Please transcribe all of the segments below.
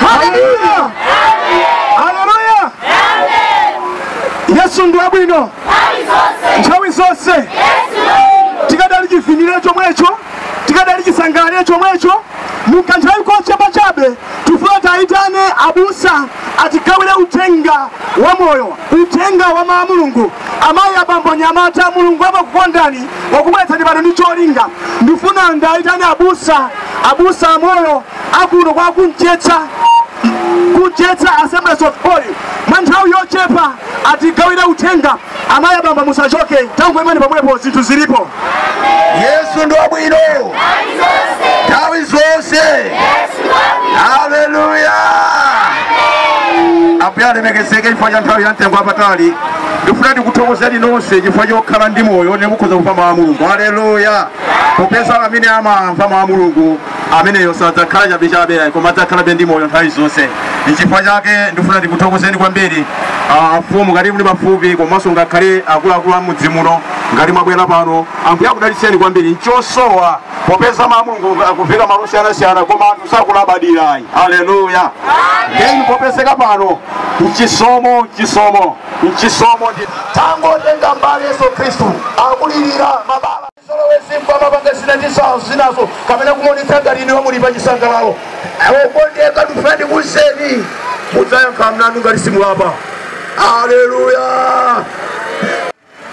Haleluya! Haleluya! Yesu ndi wabwino nthawi zonse tikadali chivinile chomwecho tikadali chisangalalire chomwecho mukanthawi konse pachabe tifuna tayitane abusa atigawire uthenga wa moyo uthenga wa mawu a mulungu amayi abambo anyamata mulungu amakukondani wakubweretsani pano ndi cholinga ndifuna ndayitane abusa abusa amoyo akuno kwa kunjetsa kunjetsa assemblies of god mwa nthawi yochepa atigawira uthenga amayi abambo musachoke tangoimani pomwepo zinthu zilipo yesu ndi wabwino nthawi zonse haleluya ambuye alemekezeke chifukwa cha nthawi ya mtengo wapatali ndifuna ndikuthokozeni nonse chifukwa chokhala ndi moyo nde mukhoza kumva mawu a mulungu haleluya popeza amene amamva mawu a mulungu ameneyo sadzakhala chabechabe ayi koma adzakhalabe ndi moyo nthawi zonse nchifukwa chake ndifuna ndikuthokozeni kwambiri ah, afumu ngati muli pafupi komanso ngakhale akuluakulu a mudzi muno ngati mwabwera pano ambuye akudalitseni kwambiri nchosowa popeza mawu a mulungu akuveka malo osiyanasiyana koma anthu sakulabadira ayi aleluya ndeni popezeka pano mchisomo mchisomo mchisomo ndithu kutenga mbali yesu khristu akulirira mabala Chizolowezi mukumapanga zina ndi zina zinazo kapena kumaonetsa ngati inuyo muli pa chisangalalo. Okondeka ndifuna ndikuuzeni mudzayankha mlandu ngati simulapa. Aleluya!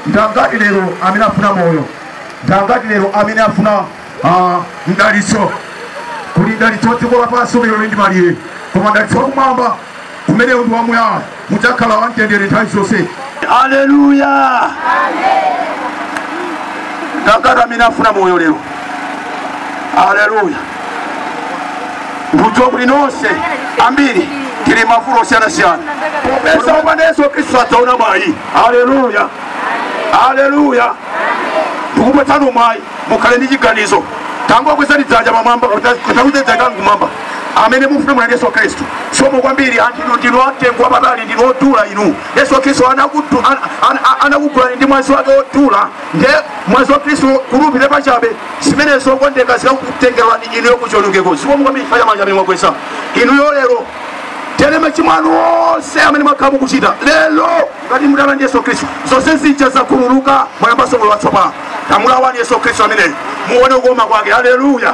Ndi angati lero amene afuna moyo? Ndi angati lero amene afuna mdalitso? Kuli mdalitso wa dziko lapansi umene uli ndi malire, koma mdalitso wa kumwamba Umenewu ndi wamuyaya, mudzakhala wamtendere nthawi zonse. Aleluya! Ndangati amene afuna moyo lero? Aleluya! Ndikudziwa kuti nonse ambiri tili mavuto osiyanasiyana, popeza popanda Yesu Khristu sadzaona mwayi. Aleluya! Aleluya! Ndikupatsani mwayi mukhale ndi chiganizo. Tangokwezani dzanja mmwamba, kuti takudzedzani kumwamba. amene mufuna moyo ndi Yesu Kristu zikomo kwambiri anthu inu ndinu amtengo wapatali ndinu odula inu Yesu Kristu anakutu- ana- ana- ana- anakugulani ndi mwazi wake odula nde mwazi wa Kristu kulipira pachabe zimenezo okondeka zikakutengerani inuyo kuchionongeko zikomo kwambiri faya manja amene mwakweza inuyo lero tene machimo anu onse amene mwakhala mukuchita lero ngati mubwera ndi yesu khristu zonse zija zakhululuka mwayambanso moyo watsopano tamulaweni yesu khristu ameneyo muone kukoma kwake haleluya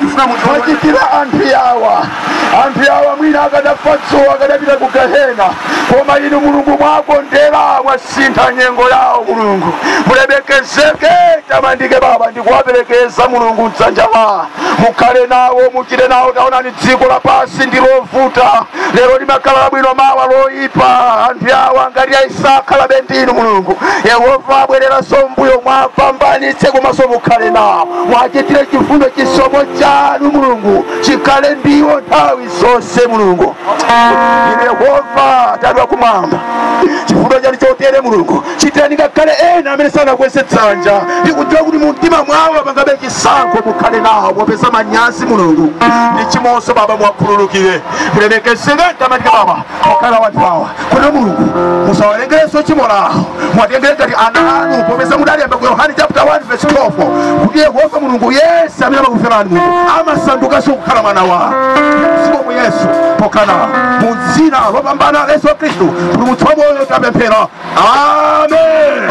Tifuna munthu womwe mwachitira anthu yawa anthu yawa mwina akadafa dzuwa akadapita ku gehena koma inu mulungu mwakondera mwasintha nyengo yawo Mulungu mulemekezeke mutamandike baba ndikuwaperekeza mulungu mdzanja la mukhale nawo muchite nawo taonani dziko lapansi ndi lovuta lero limakhala labwino mawa loyipa anthu yawa ngati asakhalabe ndi inu mulungu yehova abwereranso mbuyo muwapambanitse komanso mukhale nawo muwachitire chifundo chisomo chanu mulungu chikhale ndi iwo nthawi zonse mulungu inu yehova tate wa kumwamba chifundo chanu chotere mulungu chitirani ngakhale ena amene sanakweze dzanja ndikudziwa kuti mumtima mwawo apangabe chisankho mukhale nawo popeza manyazi mulungu ndi tchimonso baba muwakhululukire mulemekezeke mutamandike baba okhala anthu awa kuti mulungu musawawerengerenso tchimo lawo muwatengere ngati ana anu popeza mudalemba ku yohane chapter 1 verse 12 kuti yehova mulungu yense amene amakumverani mulungu amasandukanso kukhala mwana wanu mzimu mu yesu pokhala mu dzina lopambana la yesu khristu kuti Ambuye wamoyo tapemphera amen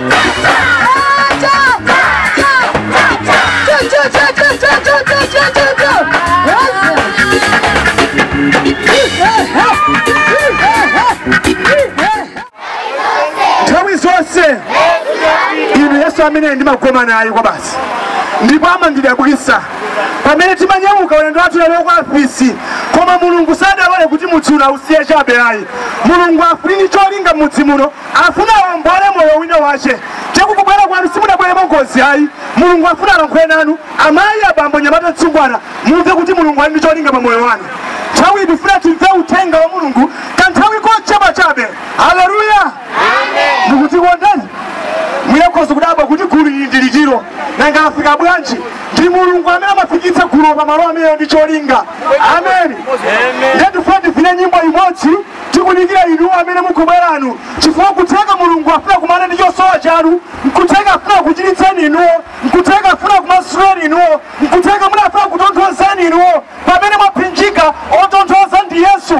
nthawi zonse inu yesu amene ndimagoma naye kwabasi ndipo amandidabwitsa pamene timanyamuka ulendo wathu lero kwa afisi koma mulungu sadalole kuti mudzi uno ausiye chabe ayi mulungu afuna ali ndi cholinga mudzi muno Afuna awombole moyo wina wache kubwera kwanu simudabwere mwa ngozi ayi mulungu afuna alankhule nanu amayi abambo mnyamata mtsungwana mumve kuti mulungu ali ndi cholinga pa moyo wanu nthawi ndifuna timve uthenga wa mulungu kanthawi kochepa chabe haleluya tikukondani mukhoza kudabwa kuti gulu ili ndi liti nanga afika bwanji ndi mulungu amene amafikitsa gulu pa malo amenewa ndi cholinga amen ndifuna tivine nyimbo imodzi tikudikira inuyo amene mukubweranu chifukwa nkutheka mulungu afuna kumana ndi chosowa chanu nkutheka afuna kuchiritseni inuyo nkutheka afuna kumasuleni inuyo nkutheka muna afuna kutonthozeni inuyo pamene mwapsinjika otonthoza ndi yesu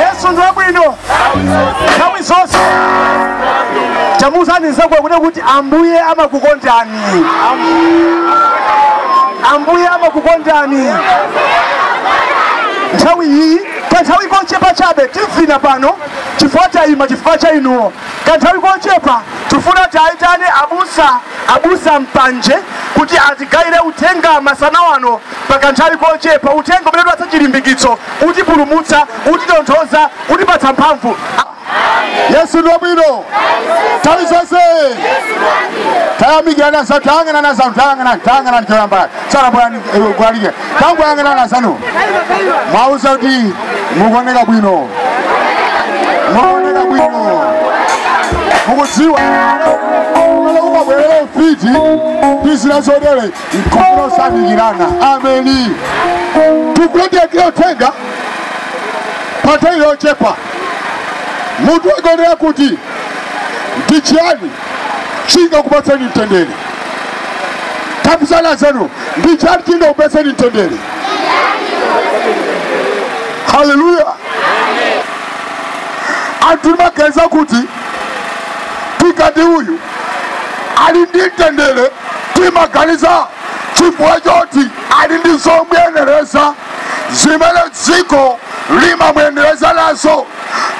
yesu ndi wabwino nthawi zonse chamuzani zakwe kuda kuti ambuye amakukondani ambuye amakukondani nthawi iyi kanthawi kochepa chabe tivina pano chifukwa tayima chifukwa cha inuyo Kanthawi kochepa tifuna tiayitane abusa, abusa Mpanje kuti atigayire uthenga masana wano pa kanthawi kochepa, uthenga umene utipatsa chilimbikitso, utipulumutsa, utitonthoza, utipatsa mphamvu. Yesu ndi wabwino nthawi zonse. Tayamikirana za tayang'anana za tayang'anana tayang'anana choyamba tsala bwana mlaliki tangoyang'anani anzanu muwauze kuti mukuoneka bwino mukuoneka bwino mukudziwa kumene kumabwerera ufiti ndi zina zotere nkufuna osafikirana ameni tikuti tione uthenga pa nthawi yochepa munthu wagonera kuti ndi chiyani chingakupatseni mtendere tafunsani anzanu ndi chani chingakupatseni mtendere haleluya anthu timaganiza kuti tikati uyu ali ndi mtendere timaganiza chifukwa choti ali ndi zomuyenereza zimene dziko limamuyenereza nazo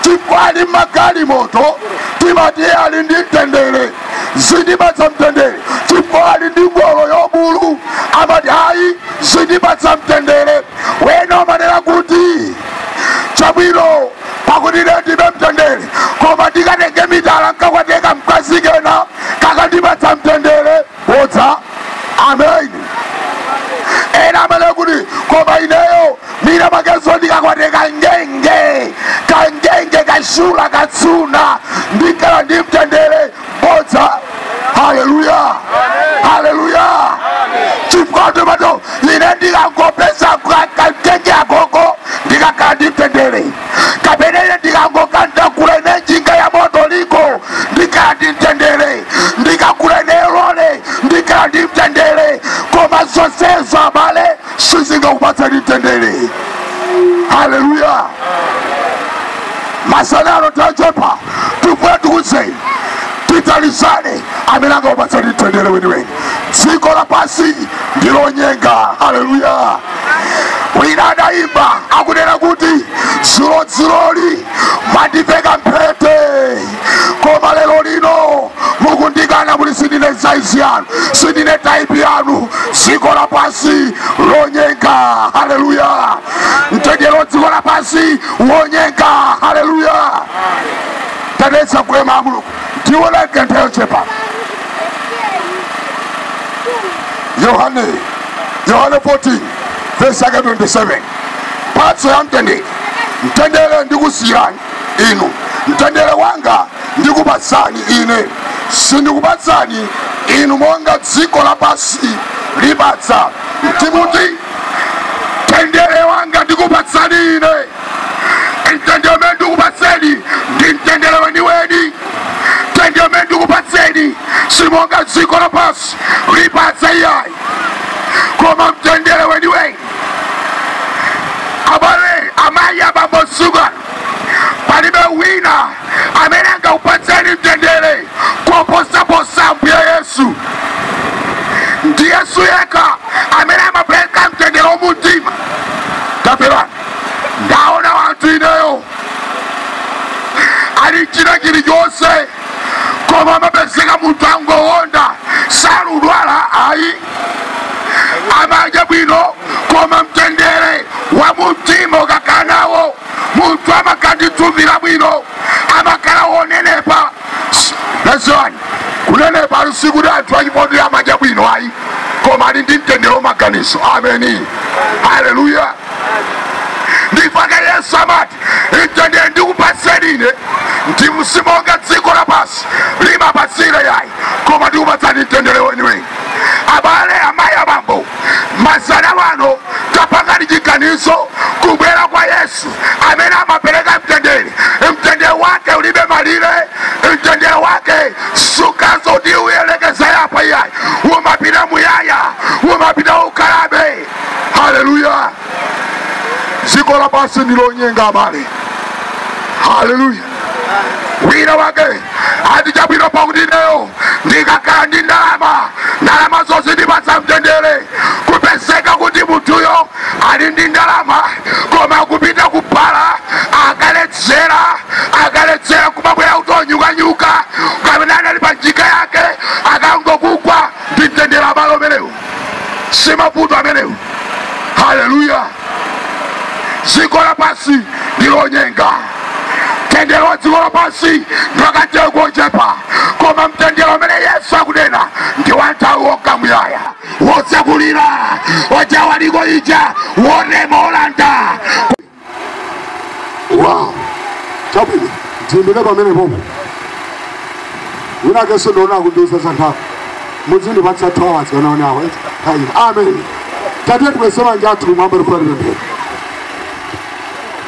chifukwa ali ndi magalimoto timati ali ndi mtendere zimpatsa mtendere chifukwa ali ndi ngolo yobulu amati ayi zimpatsa mtendere wina amanena kuti chabwino pakuti lero ndilibe mtendere koma ndikatenge mitala nkakwateka mkazi kena kakandipatsa mtendere bodza amen ena amanena kuti koma ineyo mina makezo ndikakwate kangenge kangenge kashula katsuna ndikhala ndi mtendere bodza haleluya haleluya chifukwa tomato ine ndikangopeza kangenge agogo ndikakhala ndi mtendere kapena ine ndikangoka ntagula ine njinga ya moto liko ndikhala ndi mtendere ndikagula ine lole ndikhala ndi mtendere koma zonsezo abale sizingakupatseni mtendere haleluya masana ano tachepa tifuna tikuuze tithandizane amene angakupatseni mtendere weniweni dziko lapansi ndilonyenga haleluya wina adayimba akunena kuti dzulo dzuloli mwandiveka mphete koma lero lino mukundikana kuti sindine saizi yanu sindine taipi yanu dziko lapansi lonyenga haleluya mtendere wa dziko lapansi wonyenga haleluya tatiyeni tsegule mau a mulungu tione kanthawi kochepa yohane yohane 14 vesi yake 27 mphatso ya mtendere mtendere ndikusiyirani inu mtendere wanga ndikupatsani ine sindikupatsani inu monga dziko lapansi lipatsa timuti mtendere wanga ndikupatsani ine mtendere umene ndikupatseni ndi mtendere weniweni mtendere umene ndikupatseni simonga dziko lapansi lipatsa iyayi koma mtendere weniweni abale amayi abambo shuga palibe wina amene angakupatseni mtendere koposa ambuye yesu ndi yesu yekha amene amapereka mtendere wa mumtima kapera ndaona anthu ineyo ali china chilichonse koma amapezeka munthu angowonda sakudwala ayi amadya bwino koma mtendere wa mumtima ukakhala nawo munthu amakanditsumira bwino amakhala wonenepa dziwani kunenepa sikuti anthu achipondera amadya bwino ayi koma ali ndi mtendere wa maganizo ameni haleluya ndipake yesu amati mtendere ndikupatseni ine si monga dziko lapansi limapatsira yayi koma ndikupatsani mtendere weniweni abale amayi abambo masana ano tapangani chiganizo kubwera kwa yesu amene amapereka mtendere mtendere wake ulibe malire mtendere wake sukutha uti ulekezera apa iyayi umapita muyaya umapita ukalabe haleluya dziko lapansi ndilonyenga abale haleluya wina wake ati chabwino pakuti ineyo ndikakhala ndi ndalama ndalama zizandipatsa mtendere kupezeka kuti munthuyo ali ndi ndalama koma akupita ku bala akaledzera akaledzera kumabwera kuti onunkhanunkha kapena anali pa njinga yake akungokugwa ndi mtendere abale umenewu simavuto amenewo haleluya dziko lapansi ndilonyenga mtendere wa dziko lapansi ngwa kanthawi kochepa koma mtendere umene yesu akunena ndi wa nthawi wamka muyaya wosakulira ojawaliko ija wonema olanda wow chabwino tiyimire pamene pomwe winakenso ndinawona akundiwuza za nthawi mudzindipatsa 2 hours osati 1 hour eti? Ayi, amen tate tikweze manja athu m'mwamba tikamapemphera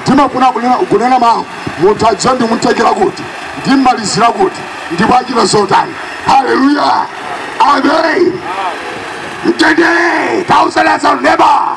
ndimafuna kunena- kunena mawu munthu adziwe ndimtengera kuti ndimmalizira kuti ndipo achita zotani haleluya amen mtendere tausowa neba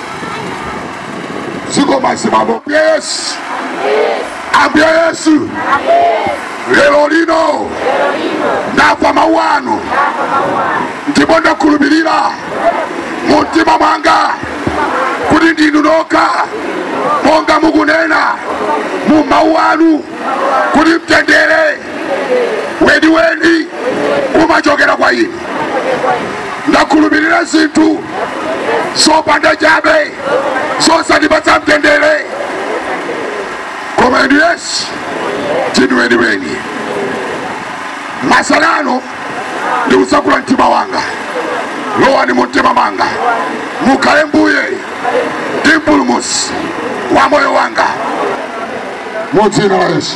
zikomo abambo ambuye yesu ambuye yesu lero lino ndamva mawu anu ndipo ndakhulupirira mu mtima mwanga kuti ndinu nokha monga mukunena mu mawu anu kuti mtendere weniweni umachokera kwa ine ndakhulupirira zinthu zopanda pake zosandipatsa mtendere koma inu yesu ndinu weniweni tsopano ndikutsekula mtima wanga lowani mu mtima mwanga mukhale mbuye ndi mpulumutsi wa moyo wanga mu dzina la yesu